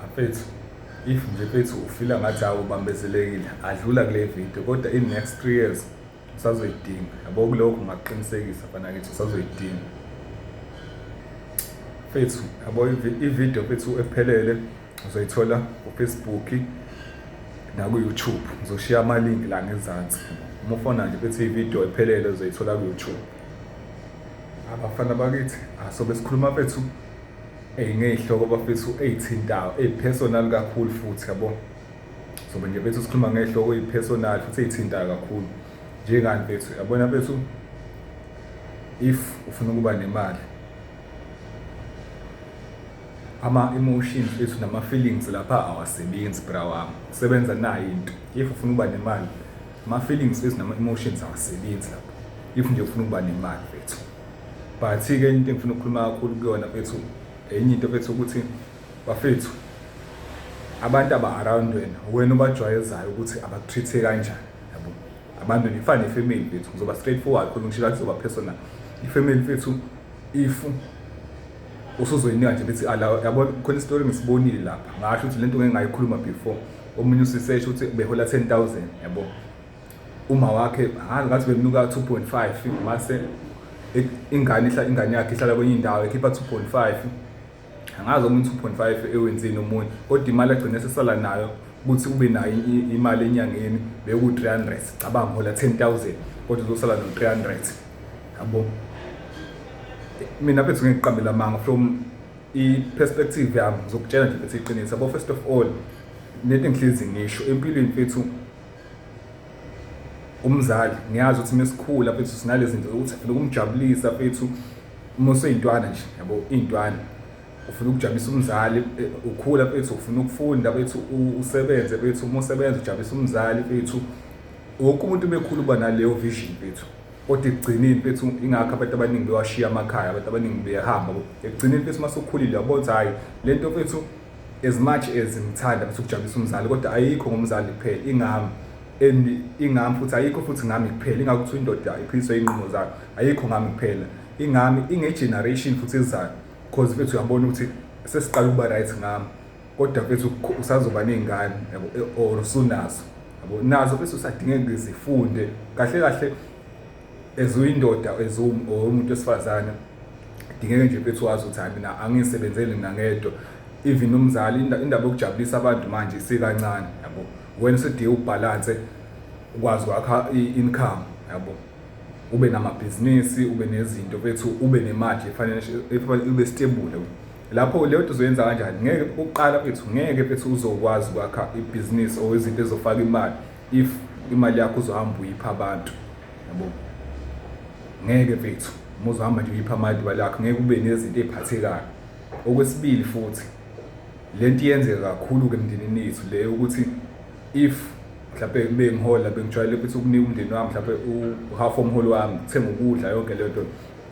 Bafethu if nje fethu ufila ngathi hawu ubambezelekile adlula kule video kodwa in next 3 years usazoyidinga yabo kulokho ngakuqinisekisa fana ngithi usazoyidinga fethu yabo ivideo fethu ephelele uzoyithola kufacebook naku-youtube ngizoshiya amalinki la ngezansi uma ufona nje fethu ivideo ephelele uzoyithola ku-youtube abafana bakithi asobe sikhuluma fethu Eyi ngey'hloko bafethu ey'thintayo ey'personal kakhulu futhi yabo sobe nje bethu sikhuluma ngey'hloko ey'personal futhi ey'thintayo kakhulu njengani bethu yabona bethu if ufuna ukuba nemali ama-emotions ethu nama-feelings lapha awasebenzi bra wami kusebenza nayo into if ufuna ukuba nemali ama-feelings ethu nama-emotions awasebenzi lapha if nje ufuna ukuba nemali bethu but ke enye into engifuna ukukhuluma kakhulu kuyona mfethu enye into mfethu ukuthi bafethu abantu aba-around wena wena ubajwayezayo ukuthi abakutreat-e kanjani yabo abantu nifane ifamily bethu ngizoba straight forward khona ngishilo kuzoba personal ifamily fethu if usuzoyinika nje bethi ala yabo khona isitori ngisibonile lapha ngasho ukuthi lento ngeke ngayikhuluma before omunye usisesho ukuthi behola 10000 yabo Uma wakhe hhayi ngathi bemnuka 2.5 mase ingane ihla ingane yakhe ihlala kwenye indawo ekhipha 2.5 angazi omunye 2.5 ewenzini omunye kodwa imali agcine sesala nayo ukuthi ube nayo imali enyangeni beku 300 cabanga hola 10000 kodwa uzosala no 300 yabo mina phethu ngiqambela amanga from i perspective yami ngizokutshela nje ukuthi iqiniso yabo first of all nento engihlezi ngisho empilweni mfethu umzali ngiyazi ukuthi mesikhula mfethu sinalezinto ukuthi ufuna ukumjabulisa mfethu uma useyintwana nje yabo intwana ufuna ukujabulisa umzali eh, ukhula mfethu ufuna ukufunda mfethu usebenze mfethu uma usebenza ujabulisa umzali mfethu wonke umuntu umekhulu uba naleyo vision mfethu kodwa ekugcineni mfethu ingakho abantu abaningi bewashiya amakhaya abantu abaningi beyahamba ekugcineni mfethu uma sokhulile yabona ukuthi hhayi le nto mfethu As much as ngithanda bese ukujabulisa umzali kodwa ayikho ngomzali kuphela ingami and ingami futhi ayikho futhi ngami kuphela ingakho kuthiwa indoda iphiliswa inqumo zayo ayikho ngami kuphela ingami ingegeneration futhi ezayo because mfethu uyabona ukuthi sesiqala ukuba right ngami kodwa mfethu usazoba ney'ngane yabo e, or usunazo yabo nazo mfethu usadingeka zifunde kahle kahle as uyindoda as umuntu wesifazane dingeke nje mfethu wazi ukuthi hayi mina angisebenzeli mina ngedwa even umzali indaba yokujabulisa abantu manje isikancane yabo wena usedinga ubhalanse ukwazi kwakha i-income yabo ube namabhizinisi ube nezinto bethu ube nemali efanele ube stable lapho leyo nto uzoyenza kanjani ngeke ukuqala bethu ngeke bethu uzokwazi kwakha ibhizinisi or izinto ezofaka imali if imali yakho uzohamba uyipha abantu yabo ngeke mfethu uma uzohamba nje uyipha amali imali yakho ngeke ube nezinto ey'phathekayo okwesibili futhi le nto iyenzeka kakhulu-ke emndenini yethu le ukuthi if mhlawumbe bengihola bengijwayele ukuthi ukunika umndeni wami mhlawumbe uhalf omholi wami kuthenga ukudla yonke leyo nto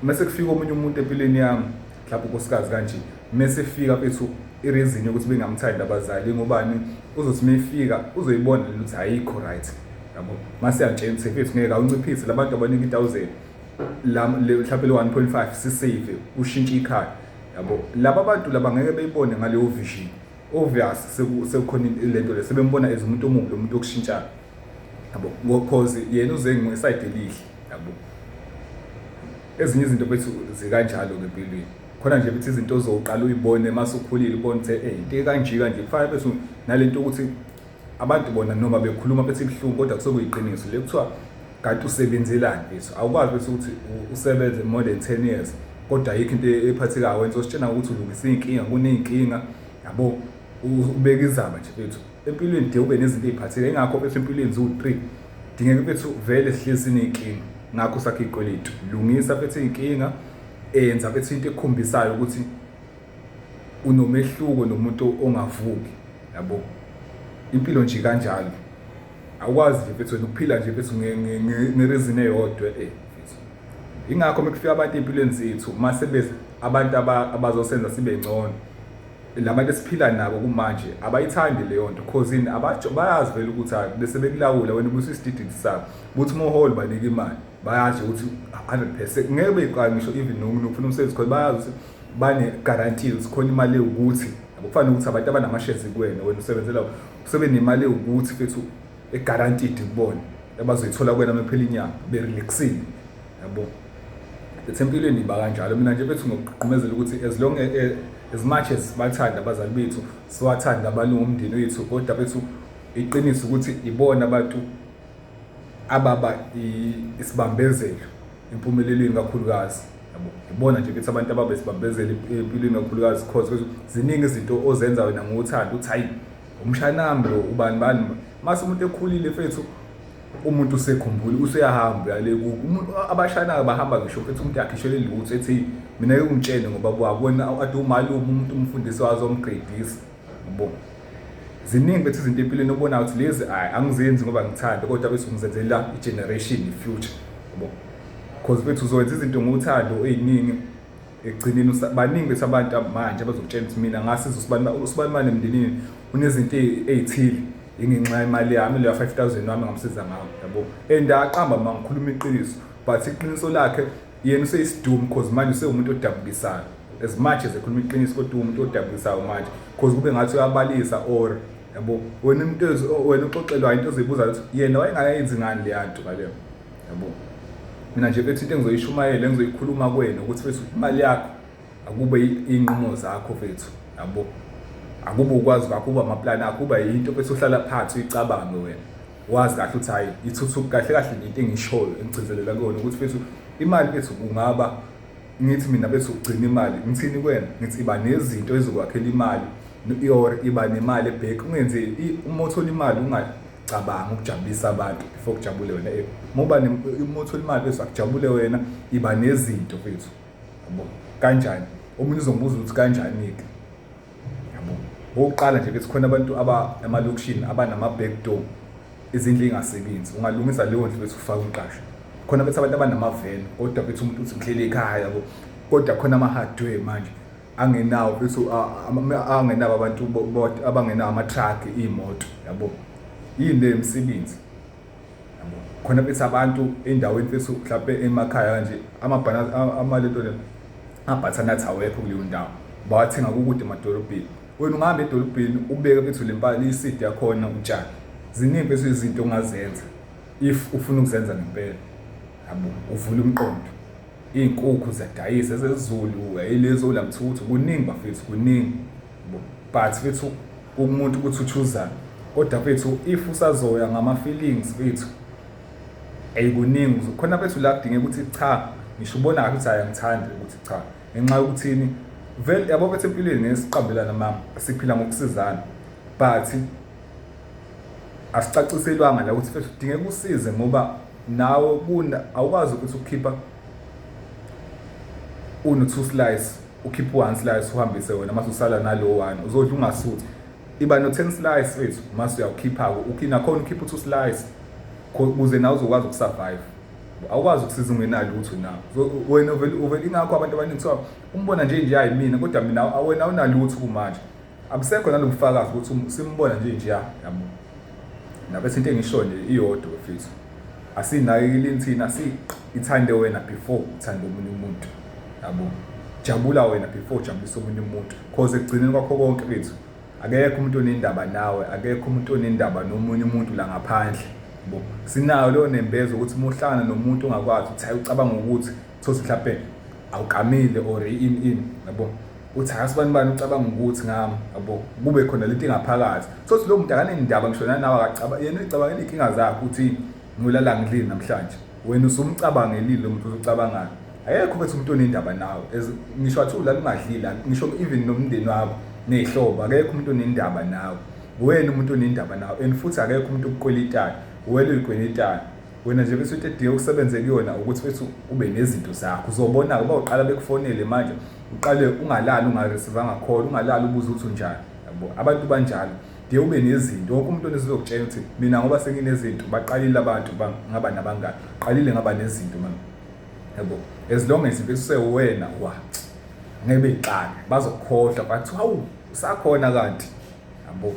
uma sekufika omunye umuntu empilweni yami mhlawumbe unkosikazi kanje mesifika fethu ireason yokuthi bengamthandi abazali ingobani uzothi mefika uzoyibona lento ukuthi ayikho right yabo mase yantshela ukuthi fethu ngeke awunciphise labantu abaningi 1000 la mhlawumbe le 1.5 sisave ushintshe ikhaya yabo laba abantu laba ngeke beyibone ngaleyo vision obvious sekukhona lento le sebembona as umuntu omubi lo muntu okushintshayo yabo because yena uze ngesayide elihle yabo ezinye izinto bethu zikanjalo ngempilweni khona nje ukuthi izinto ozoqala uyibone mase ukhulile ubone ukuthi eh into kanje kanje kufanele bese nalento ukuthi abantu bona noma bekhuluma bethi ibuhlungu kodwa kusokuyiqiniso le kuthiwa kanti usebenzelani bese awukwazi bese ukuthi usebenze more than 10 years kodwa ayikho into ephathekayo wenza ositshena ukuthi ulungisa izinkinga kuneyinkinga yabo ubeka izaba nje bethu empilweni de ube nezinto eziphathekayo ingakho bethu empilweni ziwu 3 dingeka bethu vele sihlezi nezinkinga ngakho sakhe ikweletu lungisa bethu izinkinga eyenza bethi into ekhombisayo ukuthi unomehluko nomuntu ongavuki yabo impilo nje kanjalo awukwazi nje mfethu wena ukuphila nje mfethu ngerizini eyodwa eh mfethu ingakho mekufika abantu empilweni zethu mase bese abantu abazosenza sibe ngcono labantu esiphila nabo kumanje abayithandi leyo nto cause in abajo bayazi vele ukuthi bese bekulawula wena ubusisidididi sabo ukuthi umholi banika imali bayazi ukuthi 100 percent ngeke beyiqala ngisho even nokufuna umsebenzi khona bayazi ukuthi bane-guarantee ukuthi khona imali ewukuthi akufani ukuthi abantu abanamashezi kuwena wena usebenzela usebe nemali ewukuthi fethu e-guaranteed kubona abazoyithola kuwena uma phela inyanga berelaxile yabo ethi empilweni iba kanjalo mina nje bethu ngokugqumezela ukuthi as long e, e, as much as bathanda abazali bethu siwathanda abalungu omndeni wethu kodwa bethu iqiniso ukuthi ibona abantu ababa isibambezelo empumelelweni kakhulukazi yabo ibona nje ukuthi abantu ababa isibambezelo empilweni kakhulukazi cause ziningi izinto ozenza wena ngothando uthi hayi umshanami lo ubani bani mase umuntu ekhulile fethu umuntu usekhumbula useyahamba uyale umuntu abashanayo bahamba ngisho futhi umuntu akhishele lutho ethi mina ke ungitshene ngoba bwabona ade umalume umuntu umfundisi wazo omgredisa Yabo. Ziningi bethu izinto empilweni obona ukuthi lezi ayi angizenzi ngoba ngithanda kodwa bese ngizenzela i-generation i-future. Yabo. Cause bethu uzowenza izinto ngothando eziningi ekugcineni baningi bethu abantu manje abazokutshela ukuthi mina ngasiza usibani usibani mane emndenini unezinto ezithile ingenxa imali yami leya 5000 wami ngamsiza ngawo yabo and aqamba mangikhuluma iqiniso but iqiniso lakhe Yena useyisidumu cause manje usewumuntu odabukisayo. As much as ekhuluma iqiniso kodwa umuntu odabukisayo manje cause kube ngathi uyabalisa or yabo wena umuntu wena uxoxelwa into ozibuza ukuthi yena wayengayenzi ngani le yanto ngaleyo. Yabo. Mina nje bethi into engizoyishumayela engizoyikhuluma kwena ukuthi bese imali yakho akube inqumo zakho mfethu. Yabo. Akube ukwazi kwakho uba amaplani akho uba yinto bese uhlala phansi uyicabanga wena. wazi kahle ukuthi hayi ithuthuku kahle kahle ngento engishoyo engigcizelela kuyona ukuthi fethu imali bethu kungaba ngithi mina bethu ugcina imali ngithini kwena ngithi iba nezinto ezokwakhela imali or iba nemali ebheki ungenze uma uthola imali ungacabanga ukujabulisa abantu before kujabule wena eh, uma uba uma uthola imali bethu akujabule wena iba nezinto bethu kanjani omunye uzongibuza ukuthi kanjani-ke okokuqala nje bethi khona abantu aba emalokishini abanama-back door izindlu ingasebenzi ungalungisa leyo ndlu bethi ufake umqasho khona bethi abantu abanamaveni kodwa bethi umuntu uthi mhlele ekhaya yabo kodwa khona ama-hardware manje angenawo bethi angenabo abantu abangenawo ama-truck iy'moto yabo yini le msebenzi khona bethi abantu endaweni fethu mhlawumbe emakhaya kanje amabhana amalento le abhathanathi awekho kuleyo ndawo bawathenga kukude emadolobheni wena ungahamba edolobheni ubeke fethu le mpahla isidi yakhona utshani ziningi fethu izinto ongazenza if ufuna ukuzenza ngempela yabo uvula umqondo iy'nkukhu ziyadayisa ezezulu yayilezi olamthuthu kuningi bafethu kuningi but fethu umuntu ukuthi uchoosani kodwa fethu if usazoya ngama-feelings fethu ayikuningi khona fethu la kudingeka ukuthi cha ngisho ubona kahle ukuthi ayangithandi ukuthi cha ngenxa yokuthini vele yabo bethu empilweni ngesiqambelana mama siphila ngokusizana but asicaciselwanga la ukuthi fethu kudingeka usize ngoba nawe awukwazi ukuthi ukukhipha uno-two slice ukhiphe u-one slice uhambise wena mase usala nalowo one uzodla ungasuthi iba no-ten slice wethu mase uyawukhipha-ke nakhona ukhiphe u-two slice ukuze nawe uzokwazi ukusurvive awukwazi ukusiza ungenalo lutho na wena uvele ingakho abantu abaningi kuthiwa umbona nje nje hayi mina kodwa mina awena awunalutho kumanje Abusekho nalobufakazi ukuthi um, simbona nje nje yabo. Nabese into engisho nje iyodwa mfethu. Asinakekile inthina si ithande wena before uthande umuntu umuntu. Yabo. Jabula wena before ujabulisa umuntu umuntu. Cause ekugcineni kwakho konke bethu akekho umuntu onendaba nawe akekho umuntu onendaba nomunye umuntu la ngaphandle bo sinayo leyo nembezo ukuthi muhlangana nomuntu ongakwazi ukuthi hayi ucabanga ukuthi thosi mhlawumbe awukamile or in in yabo uthi angazi bani bani ucabanga ukuthi ngami yabo kube khona lento ingaphakathi sothi lo muntu akanendaba ngisho nanawe akacabanga yena uyicabangela iy'nkinga zakhe ukuthi ngilala ngilini namhlanje wena usumcabangelile lo muntu uzocabangayo ayekho ukuthi umuntu onendaba nawe ngisho athi ulala ungadlila ngisho even nomndeni wakho ney'hlobo akekho umuntu onendaba nawe wena umuntu onendaba nawe and futhi akekho umuntu okukwelitayo wena uyikwelitayo wena nje bese uthi edinga ukusebenze kuyona ukuthi wethu ube nezinto zakho uzobona-ke uba uqala bekufonele manje uqale ungalali ungaresivanga khona ungalali ubuze ukuthi unjani yabo abantu banjalo de ube nezinto wonke umuntu onesizokutshela ukuthi mina ngoba senginezinto baqalile abantu ngaba nabangani qalile ngaba nezinto mama yabo as long as besewena wa ngeke beyiqale bazokukhohlwa bathi hawu usakhona kanti Yabo.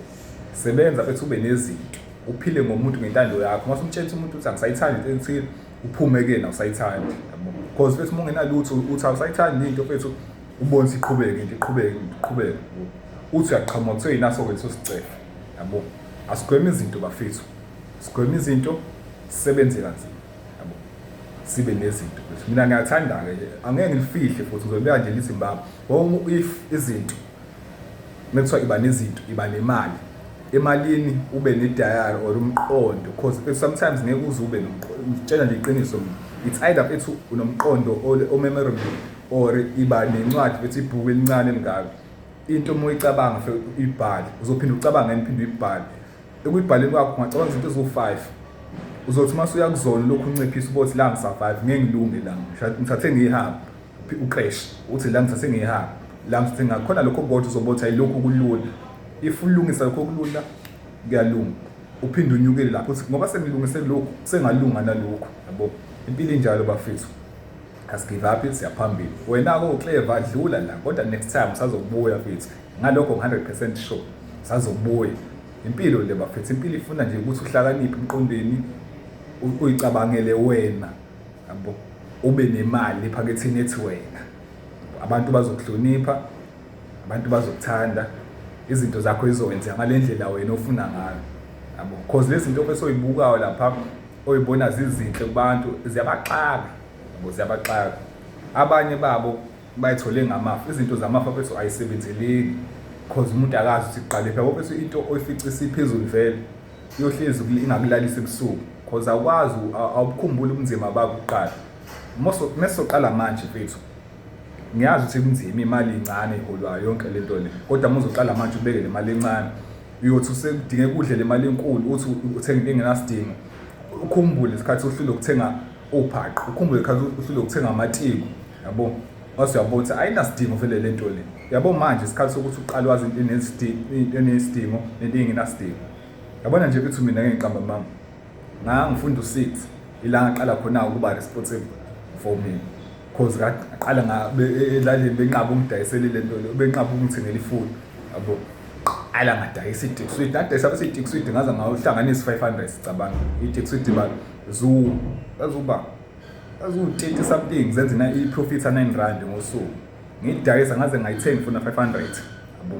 Sebenza bethi ube nezinto. Uphile ngomuntu ngentando yakho. Mase umtshela umuntu uthi angisayithandi into ethile, uphume kuyena usayithandi. Yabo. Because bethi uma ungenalutho uthi awusayithandi into fethu ubonisa iqhubeke into iqhubeke iqhubeke. Uthi uyaqhamuka kuthiwa yinaso kwethu sicefe. Yabo. Asigweme izinto bafethu. Sigweme izinto sisebenze kanzima. Yabo. Sibe nezinto. Mina ngiyathanda ke angeke ngifihle futhi ngizobeka nje lithi mbaba. If izinto Mekuthiwa iba nezinto iba nemali emalini ube ne-diary or umqondo because eh, sometimes ngeke uze ube ngitshela nje iqiniso it's either ethi unomqondo omemorable or iba nencwadi bethi ibhuku elincane elingaka into uma uyicabanga fe uyibhale uzophinde ucabanga ngani phinde uyibhale ekuyibhaleni kwakho ungacabanga izinto eziwu-five uzothi uma suyakuzona lokhu unciphisa ubothi la ngisa-five ngeke ngilunge la ngithathe ngiyihambe Uqeshi uthi la ngithathe ngihamba la ngithathe ngakhona lokho kodwa uzobotha yilokhu kulula if ulungisa lokho kulula kuyalunga uphinde unyukele lapho uthi ngoba sengilungise lokhu sengalunga nalokhu yabo impilo injalo bafethu asigive up siyaphambili wena-ke ucleva adlula la kodwa next time usazobuya fethu ngalokho 100 percent sure usazobuya impilo le bafethu impilo ifuna nje ukuthi uhlakaniphe emqondweni uyicabangele wena yabo ube nemali ephaketheni ethi wena abantu bazokuhlonipha abantu bazokuthanda izinto zakho izokwenziwa ngale ndlela wena ofuna ngayo yabo cause lezi zinto bese oyibukayo lapha oyibona zizinhle kubantu ziyabaxaka yabo ziyabaxaka abanye babo bayithole ngamafa izinto zamafa bese ayisebenzeleki because umuntu akazi ukuthi kuqale phela bese into oyifica isiphezulu vele iyohlezi ingakulalisa ebusuku because awukwazi awubukhumbuli ubunzima bakho kuqala mesoqala manje mfethu ngiyazi ukuthi kunzima imali incane iholwayo yonke le nto le kodwa uma uzoqala manje ubeke le mali encane uyothi usekudingeka udle le mali enkulu uthi uthenga into engenasidingo ukhumbule isikhathi uhlule ukuthenga uphaqo ukhumbule khathi uhlule ukuthenga amatiku yabo wase uyabona ukuthi ayinasidingo vele le nto le yabo manje isikhathi sokuthi uqale wazi into enesidingo nento engenasidingo yabona nje ukuthi mina ngiqamba mama ngangifunda u-six ila ngaqala khona ukuba responsible for mina cause kaqala ngabe e, elalini benqaba ungidayisele le nto leyo benqaba ungithengela ifoni yabo qala ngadayisa i-dixwid nadayisa bese i-dixwid ngaze ngawuhlanganisa i-five hundred sicabanga i-dixwid ba zu azuba azuwu-thirty something zenze i-profit a-nine rand ngosuku ngiyidayisa ngaze ngayithenga ifuna five hundred yabo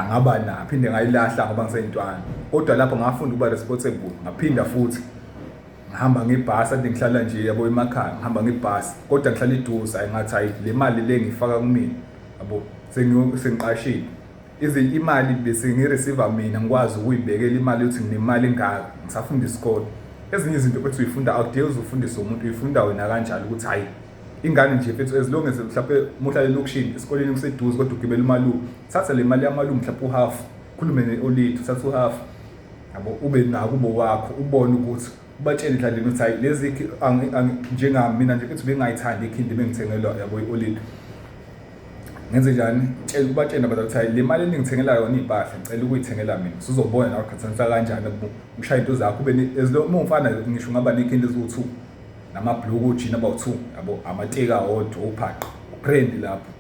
ngaba naphinde ngayilahla ngoba ngiseyintwana kodwa lapho ngafunda ukuba responsible ngaphinda futhi ngihamba ngebhasi ade ngihlala nje yabo emakhaya ngihamba ngebhasi kodwa ngihlala iduze hayi ngathi hayi le mali le ngiyifaka kumina yabo sengiqashile even imali bese ngireceive mina ngikwazi ukuyibekela imali yokuthi nginemali engaka ngisafunda isikole ezinye izinto futhi uyifunda awudingi uzufundisa umuntu uyifunda wena kanjalo ukuthi hayi ingane nje mfethu as long as mhlawumbe muhlale elokishini esikoleni kuseduze kodwa ugibela umalume thatha le mali yamalume mhlawumbe uhalf khulume ne-olithu thatha uhalf yabo ube nakubo wakho ubone ukuthi ubatshele indlela ukuthi hayi lezi njengami mina nje ukuthi bengayithandi ikhindi bengithengelwa yabo i-olile ngenze njani tshela ubatshena bathi ukuthi le mali eningithengela yona iy'mpahla ngicela ukuyithengela mina sizobona nawe khathanisa kanjani ushaya into zakho ube uma ungifana ngisho ngaba nekhindi eziwu-two namabhuluku ojini abawu-two yabo amateki awodwa ubhaqo uphrendi lapho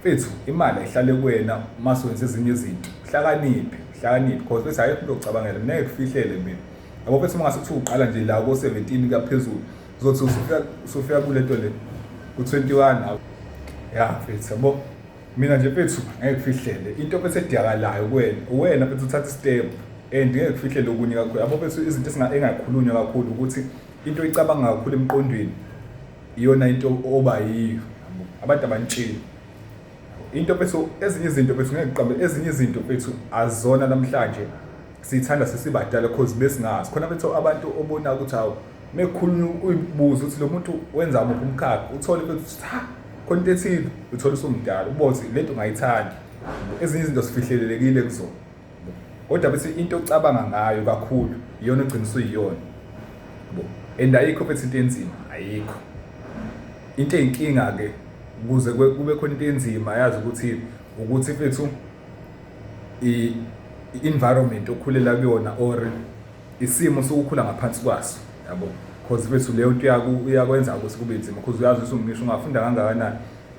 Mfethu imali ayihlale kuwena mase wenza ezinye izinto. Hlakaniphe, hlakaniphe because bese ayikho into ocabangela mina ngikufihlele mina. Yabo bese mangase kuthiwa uqala nje la ko 17 kaphezulu. Uzothi usufika usufika kule nto le ku 21 hawu. Ya mfethu yabo. Mina nje mfethu ngeke kufihlele into bese ediyakalayo kuwena. Uwena mfethu uthatha istep and ngeke kufihlele okunye kakhulu. Yabo bese izinto engakhulunywa kakhulu ukuthi into oyicabanga kakhulu emqondweni iyona into oba yiyo abantu abanitsheli into bethu ezinye izinto bethu ngeke qambe ezinye izinto bethu azona namhlanje sithanda sesibadala cause besingazi khona bethu abantu obona ukuthi hawu mekhuluma uyibuza ukuthi lo muntu wenza muphi umkhakha uthole ukuthi cha khona into ethile uthole usumdala ubothi lento ngayithandi ezinye izinto sifihlelelekile kuzona kodwa bethi into ocabanga ngayo kakhulu iyona ugcina usuyiyona bo and ayikho bethi into enzima ayikho into eyinkinga ke kuze kube khona into enzima yazi ukuthi ukuthi mfethu i environment okhulela kuyona or isimo sokukhula ngaphansi kwaso yabo because mfethu leyo nto yaku uyakwenza ukuthi kube nzima because uyazi ukuthi ungisho ungafunda kangakanani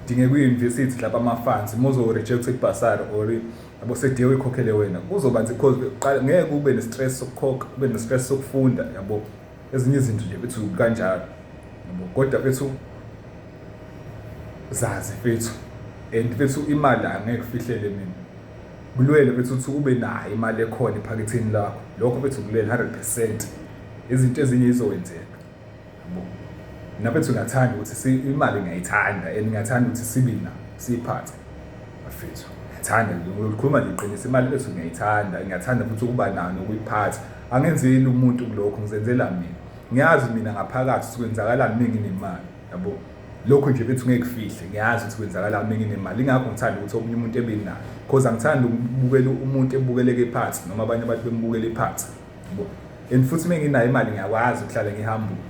dingeka uyi-university lapha ama-funds uma uzo-rejecta i-basar or yabo sediye uyikhokhele wena kuzoba nzi cause uqala ngeke ube ne-stress sokukhokha ube ne-stress sokufunda yabo ezinye izinto nje bethu kanjalo yabo kodwa bethu zazi fethu and fethu imali angeke kufihlele mina kulwele fethu ukuthi ube nayo imali ekhona ephaketheni lakho lokho fethu kulwele 100% izinto ezinye izowenzeka nabethu ngathanda ukuthi imali ngiyayithanda and ngiyathanda ukuthi sibina siyiphathe bafethu ngiyathanda ngikhuluma nje iqiniso imali bethu ngiyayithanda ngiyathanda futhi ukuba nayo nokuyiphatha angenzeli umuntu kulokho ngizenzela mina ngiyazi mina ngaphakathi ukuthi kwenzakalani uma nginemali yabo lokho nje bethu ngeke kufihle ngiyazi ukuthi kwenzakalani uma nginemali ingakho ngithanda ukuthi omunye umuntu ebe nayo cause angithandi ukubukela umuntu ebukeleke phansi noma abanye abantu bembukele phansi and futhi uma nginayo imali ngiyakwazi ukuhlala ngihambule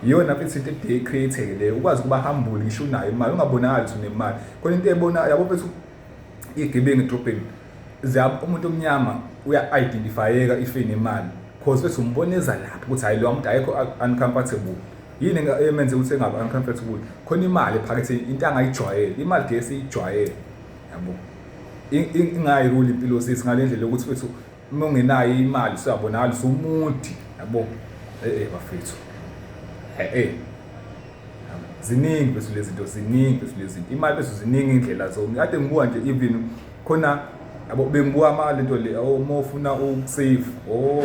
iyona futhi into ede creative leyo ukwazi ukuba humble ngisho unayo imali ungabonakali ukuthi unemali khona into ebona yabo mfethu igebengu edrobheni umuntu omnyama uya-identifyeka ifeni imali cause bese umboneza lapho ukuthi hhayi lowa muntu ayekho uncomfortable yini emenze ukuthi engabe uncomfortable khona imali ephakethe into angayijwayele imali gesi iyijwayele yabo ingayiruli impilo sisi ngale ndlela yokuthi fethu uma ungenayo imali siyabonakala sumuthi yabo eh bafethu eh ziningi bese lezinto ziningi bese lezinto imali bese ziningi indlela zonke kade ngibuka nje even khona yabo bengibuka ama lento le uma ufuna ukusave o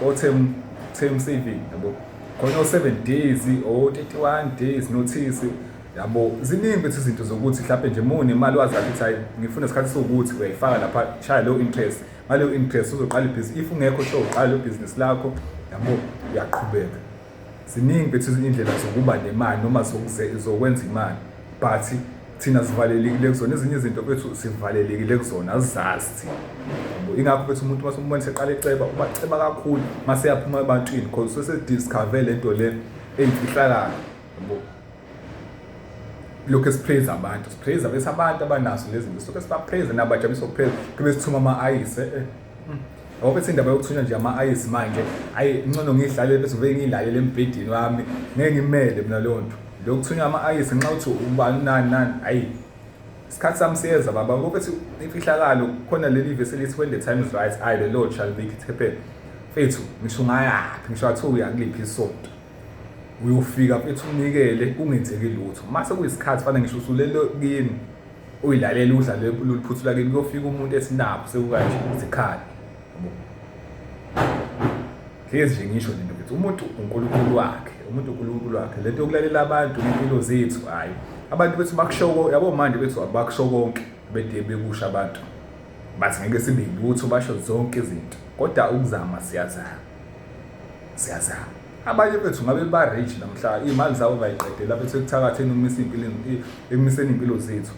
o term term saving yabo khona o 7 days o 31 days notice yabo ziningi bethu izinto zokuthi mhlawumbe nje muni imali wazi ukuthi hayi ngifuna isikhathi sokuthi uyayifaka lapha shaya leyo interest ngaleyo interest uzoqala ibhizinisi if ungekho sho uqala leyo bhizinisi lakho yabo uyaqhubeka ziningi bethu izindlela zokuba nemali noma zokwenza imali but thina sivalelekile kuzona ezinye izinto bethu sivalelekile kuzona azazi thina ingakho bethu umuntu uma umbona seqala eceba ubaceba kakhulu uma seyaphuma ebantwini because sesediscover le nto le eyimfihlakalo lokhu esipraise abantu sipraise bese abantu abanaso lezi zinto soke sibapraise nabajabulisa ukupraise kube sithuma ama-ayise eh, hmm. ngoba bethi indaba yokuthunywa nje ama-ayisi manje ayi ncono ngiyidlalele bese ngibe ngiyilalele embhedeni wami ngeke ngimele mina leyo nto lokuthunywa ama-ayisi nxa uthi ubani nani nani ayi isikhathi sami siyeza baba ngoba bethi imfihlakalo khona leli vesi elithi when the time is right i the lord shall make it happen fethu ngisho ngayaphi ngisho athiwa uyakuliphi isonto uyofika mfethu unikele kungenzeki lutho mase kuyisikhathi fana ngisho usulele kini uyilalela udlale loluphuthu lakini kuyofika umuntu esinabo sekukanje izikhali hlezi nje ngisho lento mfethu umuntu unkulunkulu wakhe umuntu unkulunkulu wakhe lento yokulalela abantu impilo zethu hhayi abantu bethu bakushoko yabo manje bethu abakusho konke bede bekusha abantu bathi ngeke sibe lutho basho zonke izinto kodwa ukuzama siyazama siyazama abanye bethu ngabe ba rich namhla imali zabo bayiqedela bethu ekuthakatheni umise impilo emiseni impilo zethu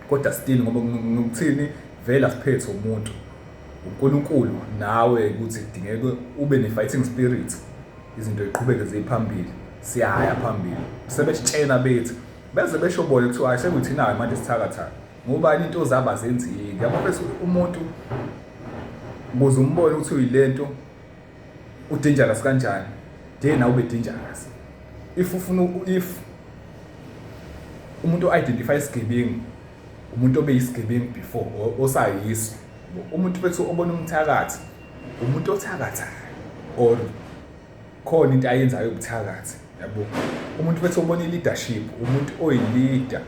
kodwa still ngoba ngikuthini vele asiphethe umuntu uNkulunkulu nawe ukuthi kudingeke ube ne fighting spirit izinto ziqhubeke ziphambili siyaya phambili sebesitshena bethu beze besho bona kuthiwa ayisekuthina manje sithakathaka ngubani into zabo azenzeki yabo bese umuntu ukuze umbone ukuthi uyilento udangerous kanjani de nawe ube dangerous if ufuna if umuntu identify isigebengu umuntu obe yisigebengu before osayiso umuntu bese obona umthakathi umuntu othakathayo or khona into ayenzayo ubuthakathi yabo umuntu bese obona i-leadership umuntu oyi-leader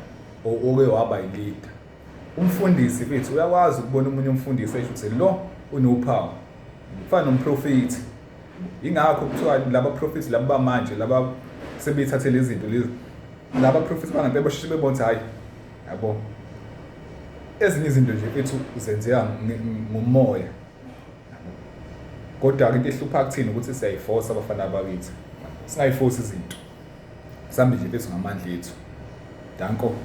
oke waba yilida umfundisi fithi uyakwazi ukubona umunye umfundisi esho ukuthi lo unophawu kufana nomprofethi ingakho kuthiwa laba profethi laba bamanje laba sebethathe lezi zinto lezi laba profethi bangempela basheshe bebona ukuthi hhayi yabo ezinye izinto nje ethu zenzeka ngomoya kodwa-ke into ehlupha kuthina ukuthi siyayifosa abafana bakithi singayifosi izinto sambe nje bethu ngamandla ethu danko